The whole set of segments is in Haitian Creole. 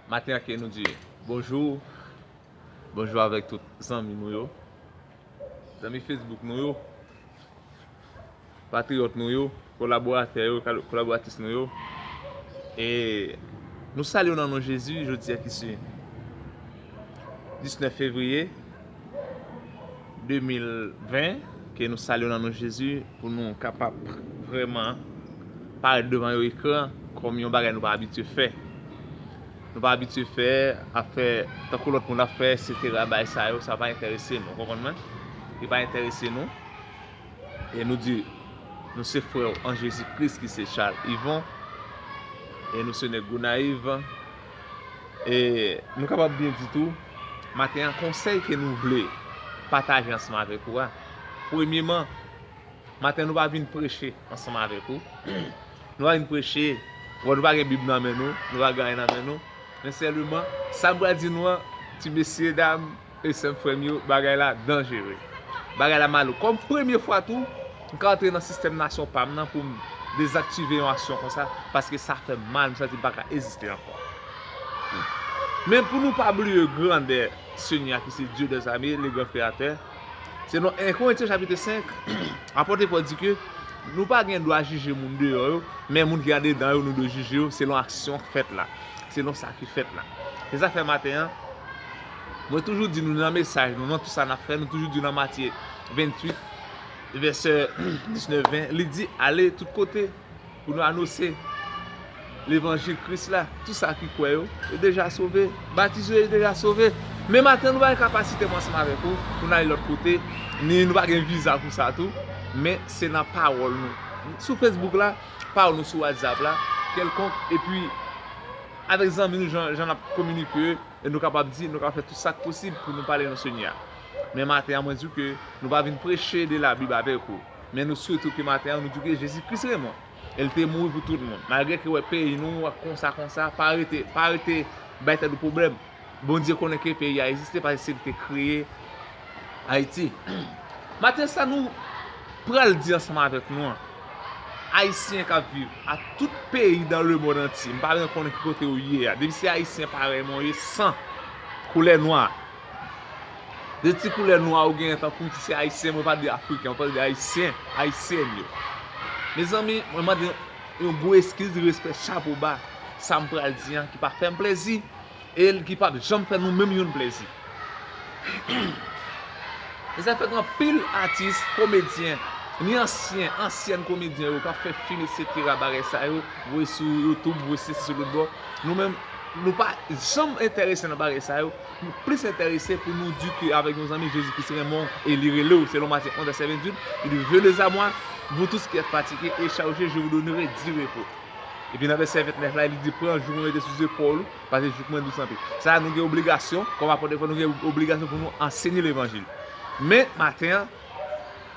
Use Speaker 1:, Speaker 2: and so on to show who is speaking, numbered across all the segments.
Speaker 1: Maten an ke nou di bonjou, bonjou avèk tout zanmi nou yo, zanmi Facebook nou yo, patriyòt nou yo, kolaboratè yo, kolaboratris nou yo, e nou salye w nan non Jezi jodi a ki se 19 fevriye. 2020 ke nou salye w nan non Jezi pou nou kapab vrèman parèt devan yon ekran kòm yon bagay nou pa abitye fè. Nou pa abitye fè, ap fè tankou lòt moun ap fè eksetera bagay sa yo sa pa enterese nou ou konprann mwen? Li pa enterese nou e nou di nou se frè w an Jezi Kris ki se Charles Yvon e nou se nèg Gonayiv Nou kapab byen di tou, maten an konsèy ke nou vle pataje ansanm avèk ou a, premyeman, maten an nou pa vin preche ansanm avèk ou, nou pa vin preche, wè nou pa gen bib nan men nou, nou pa gen anyen nan men nou, men sèleman, sa m pral di nou an, ti mesye dam, Esèm frèm yo bagay la danjere. Bagay la malouk. Kòm premye fwa tou m ka antre nan sistèm nasyon pam nan poum dezaktive yon aksyon konsa paske sa fèm mal m santim paka eziste ankò. Men pou nou pa bliye grandè Senyè a ki se Dye dè zame le gran kreyatè. Selon 1 Korentyen chapitre 5 apòte Pòl di ke nou pa gen dwa jije moun deyò yo men moun ki andedan yo nou dwe jije yo selon aksyon k fèt la. Selon sa ki fèt la. Se sa k fè maten an. Mwen toujou di nou nan mesaj nou, nan tout sa n ap fè, nou toujou di nan Matye 28, vèsè 19, 20, li di, Ale tout kote pou nou anose levanjil Kris la. Tout sa ki kwè yo, yo deja sove. Batize yo, yo deja sove. Men maten nou pa gen kapasite mwen ansanm avèk ou pou nou ale lòt kote, ni nou pa gen viza pou sa tou, men se nan pawòl nou, sou Facebook la, pawòl nou sou WhatsApp la, kèlkonk, epi avèk zanmi nou jan n ap kominike. E nou kapab di, nou ka fè tout sak posib pou nou pale nan Senyè a. Men maten an mwen di w ke nou pa vin preche de la Bib avèk ou. Men nou swete w ke maten an nou di w ke Jezi Kris renmen w. E l te mouri pou tout moun. Malgre ke w wè peyi nou ap konsa konsa, pa rete, pa rete bay tèt ou pwoblèm. Bondye konnen ke peyi a egziste paske se li te kreye. Ayiti. Maten sa nou pral di ansanm avèk nou an, Ayisyen k ap viv a tout peyi dan le mond antye, m pa bzwen konnen ki kote ou ye a, depi se Ayisyen parèy mwen ou ye san koulè nwa, de ti koulè nwa ou genyen tankou m si se Ayisyen mwen pa di Afriken, mwen pral di Ayisyen, Ayisyen yo. Mezanmi, mwen mande yon gwo eskiz respè chapo ba, sa m pral di an ki pa fè m plezi. e ki p ap janm fè nou menm youn plezi. E sa fè gen anpil atis, komedyen, ni ansyen, ansyèn komedyen yo k ap fè fim eksetera, bagay sa yo, voye sou Youtube, voye sou sesi sou lòtbò, nou menm, nou pa janm enterese nan bagay sa yo, nou plis enterese pou nou di ke avèk yon zanmi Jezi Kris renmen w e li rele w, selon Matye 11 vèsè 28, il dit, Venez à moi, vous tous qui êtes fatigués et chargés, je vous donnerai du repos. Epi nan vèsè 29 la, li di, Pran jouk mwen mete sou zepòl ou, paske jouk mwen dous anpil. Sa a, nou gen obligasyon, kòm apot Efrèm, nou gen obligasyon pou nou ansenye levanjil. Men, maten an,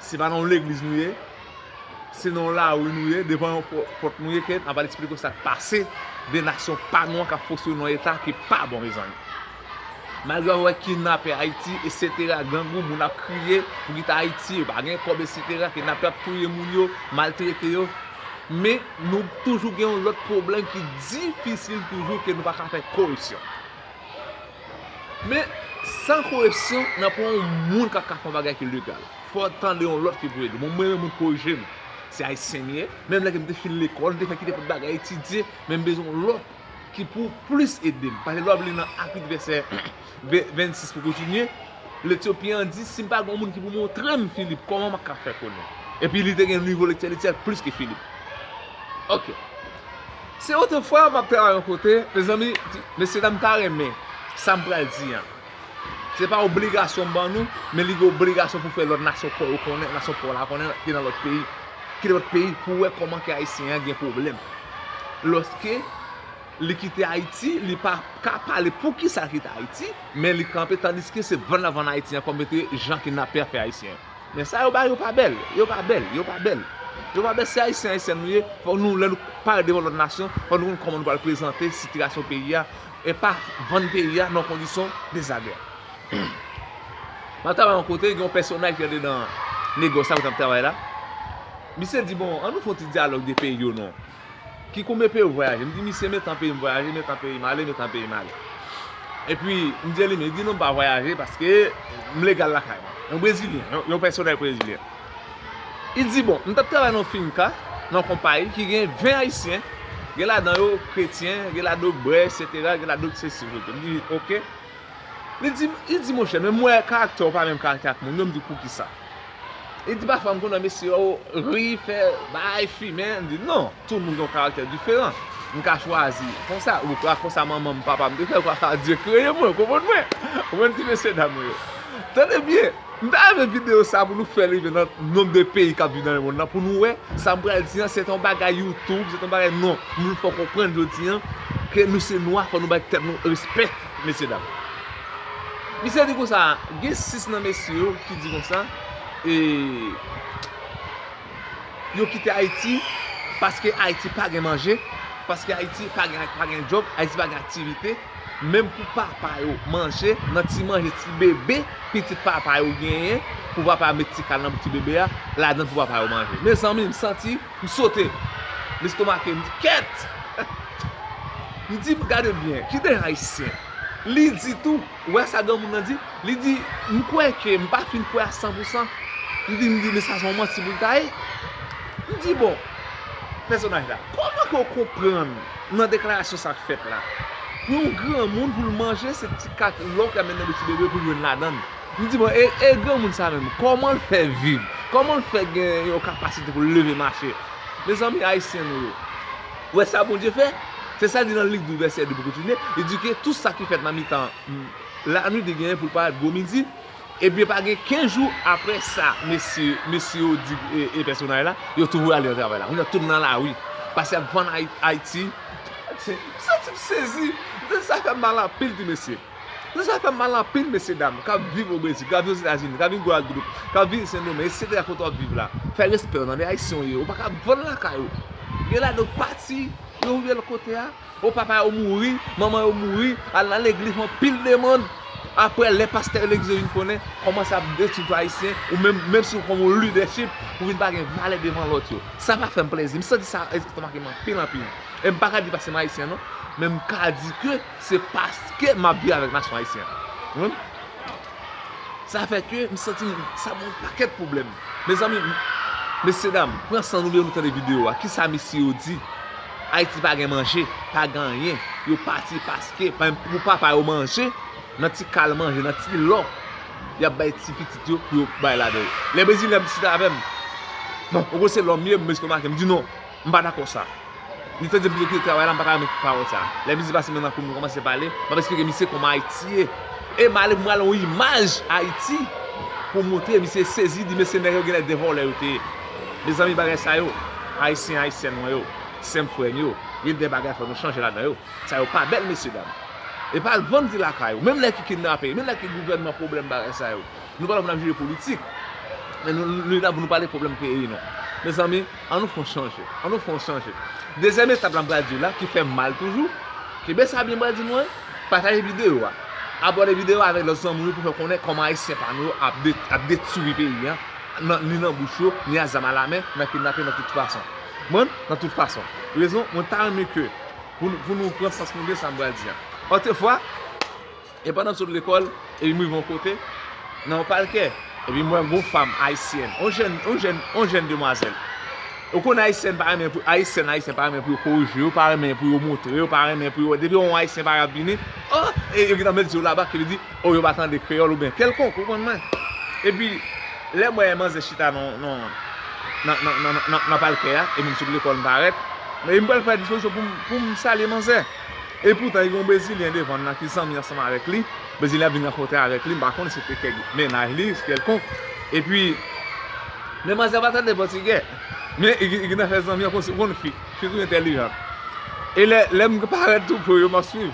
Speaker 1: se pa nan yon legliz nou ye, se nan yon lari nou ye, devan yon pòt nou ye, ke n ap al esplike w sa k pase de nasyon pa nou an k ap fonksyone nan yon eta ki pa bon, mezanmi. Malgre wap wè kidnapè Haiti esetera grangou moun ap kriye pou kite Haiti yo pa gen kòb esetera kidnapè ap touye moun yo maltrete yo men nou toujou gen yon lòt pwoblèm ki difisil toujou ke nou pa ka fè korepsyon men san korepsyon nan pran yon moun kap ka fè yon bagay ki legal fò tande yon lòt ki pou ede bon mwen menm moun korije m se ayisyen m ye menm lè ke m te fin lekòl m te fè kite tout bagay etidye men m bezwen yon lòt. ki pou plis ede m. Pase lè w ap li nan Apit vèsè 26 pou kontinye, Letiopyen an di, si m pa gen yon moun ki pou montre m Filip, kòman m ap ka fè konnen? Epi li te gen nivo lektè li te fèt plis ke Filip. Ok. Se otrefwa m ap travay yon kote, mezanmi, mesyedam ta renmen sa m pral di an. Se pa obligasyon ban nou, men li gen obligasyon pou fè lòt nasyon pa yo konnen, nasyon pa w la konnen ki nan lòt peyi, ki nan lòt peyi pou wè kòman ke Ayisyen an gen pwoblèm. Lòske li kite Ayiti, li pa ka pale pou ki sa l kite Ayiti, men li kanpe tandiske se vann l ap vann Ayiti an kòm ete jan kidnapè a fè Ayisyen yo. Men sa yo bay yo pa bèl, yo pa bèl, yo pa bèl. Yo pa bèl, se Ayisyen, Ayisyen nou ye, fòk nou lè nou pare devan lòt nasyon, fòk nou konn kòman nou pral prezante sitiyasyon peyi a e pa vann peyi a nan kondisyon dezagre. Map travay yon kote gen yon pèsonaj ki antre nan negòs la kote map travay la, misye di bon an nou fè yon ti dyalòg de peyi yo non, ki konbyen peyi ou vwayaje, mdi misye men tan peyim vwayaje, men tan peyim ale, men tan peyim ale. Epi mdi elimine, li di non mpa vwayaje paske mlegal lakay mwen. Yon brezilyen, yon pèsonaj brezilyen. Li di, Bon, m t ap travay nan yon finka, nan yon konpayi ki gen 20 Ayisyen, gen ladan yo kretyen, gen ladan yo brè, eksetera, gen ladan yo ki sesi, sesi lote. M di, Ok. Li di, Li di, Monchè, men m wè karaktè w pa menm karaktè ak moun yo. M di, Poukisa? Li di, Pafwa m konn wè mesye yo ri, fè bagay, fimen. M di, Non, tout moun gen yon karaktè diferan. M ka chwazi konsa. Ou ka konsa manman m, papa m te fè. Ou ka fè a Dye kreye mwen. Ou konprann mwen? Ou konprann ti mesyedam yo? Tande byen! M ta renmen video sa pou nou fèl rive nan nomb de peyi kap viv nan lemond lan pou nou wè sam pral di an se ton bagay youtube se ton bagay non moun fò konprann jodi an ke nou se nwa fò nou bay tèt nou respè mesye dam misye di konsa gen 6 nan mesye yo ki di konsa e yo kite ayiti paske ayiti pa gen manje paske ayiti pa gen job ayiti pa gen aktivite. menm pou papa yo manje nan ti manje ti bebe pitit papa yo genyen pou papa met ti kal nan bouch ti bebe a ladann pou papa yo manje mezanmi m santi m sote m estomake m di kèt m di gade byen ki de ayisyen li di tou ou wè sa granmoun nan di li di m kwè ke m pa fin kwè a san pou san m di m di men sa son manti pou l ta ye m di bon pèsonaj la kòman ke w konprann. Nan deklarasyon sa k fèt la. Pou yon granmoun pou l manje se ti kat lò k ap met nan bouch ti bebe pou l jwenn ladann. M di bon e granmoun sa menm kòman l fè viv? Kòman l fè gen yon kapasite pou l leve mache? Mezanmi ayisyen nou yo. Ou wè sa Bondye fè? Se sa l di nan Lik 12 vèsè 2 pou l kontinye, li di ke tou sa ki fèt nan mitan lanwit li genyen pou l parèt gwo midi, Ebyen pa gen 15 jou aprè sa mesye mesye yo di e pèsonay la, yo tou voye al nan travay la. Kounye a tout nan lari, pase y ap vann Ayiti. M santi m sezi, m santi sa fè m mal anpil ti mesye. M santi sa fè m mal anpil mesye dam k ap viv o Brezil, k ap viv Ozetazini, k ap viv Gwadloup, k ap viv Sendomeng eksetera kote w ap viv la. Fè respè w tande, Ayisyen w ye, ou pa ka vann lakay ou. Gen ladan yo k pati, yo viv lòt kote a. Oh papa yo mouri, manman yo mouri, al nan legliz fè yon pil demand, aprè lè pastè legliz yo vin konnen, kòmanse ap detwi tout ayisyen, ou menm, menm si ou kòm yon lidèchip, ou vin pa gen valè devan lòt yo. Sa pa fèm plezi, m santi sa estomakem anpil anpil. E m paka di paske m ayisyen non, men m ka di ke se paske map viv avèk nasyon ayisyen an. Ou konprann? Sa fè ke m santim, sa ban yon pakèt pwoblèm. Mezanmi, mesye dam, pran san nou byen nou tande videyo a, kisa mesye yo di? Ayiti pa gen manje, pa gen anyen, yo pati paske pa menm pou papa yo manje, nan ti kal manje, nan ti lò, y ap bay ti pitit yo pou yo bay ladan yo. Lè Brezilyen ap diskite avè m, bon, ou kwè se lòm ye, m bezwen estomake, m di non, m pa dakò sa. Li te di m pou yo kite travay la, m pa ta renmen pawòl sa. Lè misye pase men nan kou m, nou kòmanse pale, m ap esplike misye kòman Ayiti ye. E m ale pou m ale yon imaj Ayiti pou montre misye sezi, li di mesye nèg yo genlè 2 vòlè yo te ye. Mezanmi bagay sa yo Ayisyen Ayisyèn mwen yo Sèm frèm yo Gen de bagay fò nou chanje ladan yo Sa yo pa bèl mesye dam Epa al vann di lakay ou Menm lè ki kidnape Menm lè ki gouvènman pwoblèm bagay sa yo Nou pa la pou nap jije politik Men nou la pou nou pale pwoblèm peyi nou Mezanmi an nou fon chanje An nou fon chanje Dezyèm etap la m pral diw la ki fèm mal toujou Kenbe sa byen m pral di nou an Pataje videyo a Abòne videyo a avèk lòt zanmi ou pou fè konnen kòman Ayisyen pa nou yo ap detwi peyi an. ni nan bouch yo, ni a zam a la men, nan kidnape nan tout fason. Konprann? Nan tout fason. Rezon, mwen ta renmen ke pou nou pran sans nou gen sa m pral di an. Òtrefwa, e pandan m sot lekòl, epi m rive yon kote, nan yon palkè, epi m wè yon fanm ayisyèn, yon jèn, yon jèn, yon jèn demwazèl. Ou konnen ayisyèn pa renmen pou, ayisyèn, ayisyèn pa renmen pou yo korije yo, pa renmen pou yo montre yo, pa renmen pou yo, depi yo wè yon ayisyen pa gen ap vini, oh, e yo gen tan met zye yo laba, ki vle di, Oh yo pa tande kreyòl ou byen kelkonk ou konn mwen epi lè mwen wè manzè chita nan palkè a epi m sot lekòl m parèt epi m pral fè dispozisyon pou m salye manzè epi poutan gen yon brezilyen devan nan ki zanmi ansanm avèk li brezilyen an vin rankontre avèk li m pa konnen si se te kèk mennaj li kelkonk epi men manzè pa tande pòtigè men li gen tan fè zanmi an konn si ou konn fi fi toujou entèlijant e lè m parèt tou pre yo m ap swiv.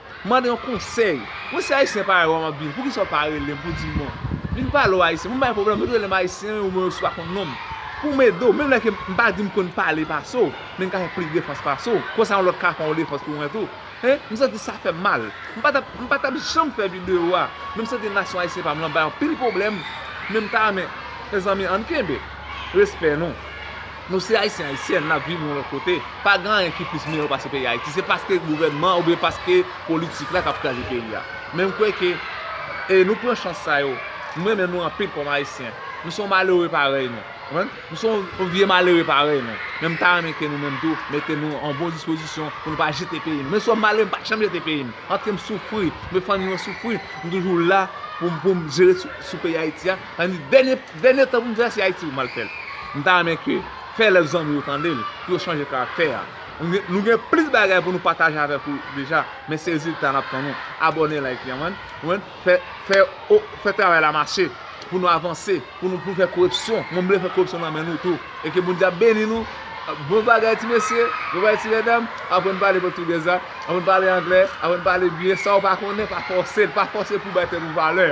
Speaker 1: M mande yon konsèy. Mwen se Ayisyen parèy ou a m ap vin. Poukisa ou pa rele m pou w di m bon, vin pale ou Ayisyen. Pou m bay pwoblèm ou, ou te rele m Ayisyen wi ou mwen resevwa kon non m. Pou m ede ou. Menm lè ke m pa di m konn pale pase w, men m ka fè plis defans pase w. Konsa yon lòt ka fè yon defans pou mwen tou. Hein? M santi sa fè m mal. M pa t ap, m pa t ap janm fè videyo a. Men m santi nasyon Ayisyen pa m lan bay anpil pwoblèm. Men m ta renmen, mezanmi ann kenbe. Respè nou. Nou se ayisyen ayisyen nap viv yon lòt kote pa gen anyen ki plis miyò pase peyi ayiti se paske gouvènman an oubyen paske politik la kap kraze peyi a men m kwè ke e nou pran chans sa yo m renmen nou anpil kòm ayisyen nou se yon malere parèy nou konprann nou se yon vye malere parèy nou men m ta renmen ke nou menm tou mete nou an bon dispozisyon pou nou pa jete peyi nou menm si yon malere m pa janm jete peyi m antre m soufri m fè fanmi mwen soufri m toujou la pou m pou m jere sou peyi ayiti a. Sa vle di dènye tan pou m travèse Ayiti pou m al fè l. M ta renmen ke fè lèv zanmi yo tande l, pou yo chanje karaktè a. Nou gen plis bagay pou nou pataje avèk ou deja, men se rezilta nap tann ou. Abòne like li an man. Fè travay la mache pou nou avanse, pou nou fè korepsyon. Mwen m vle fè korepsyon nan men nou tou. E ke Bondye ap beni nou. Bon bagay ti mesye, bon bagay ti medam. Aprann pale pòtugèz la, aprann pale anglè, aprann pale byen. Sa ou pa konnen pa fòse l, pa fòse pou w bay tèt ou valè.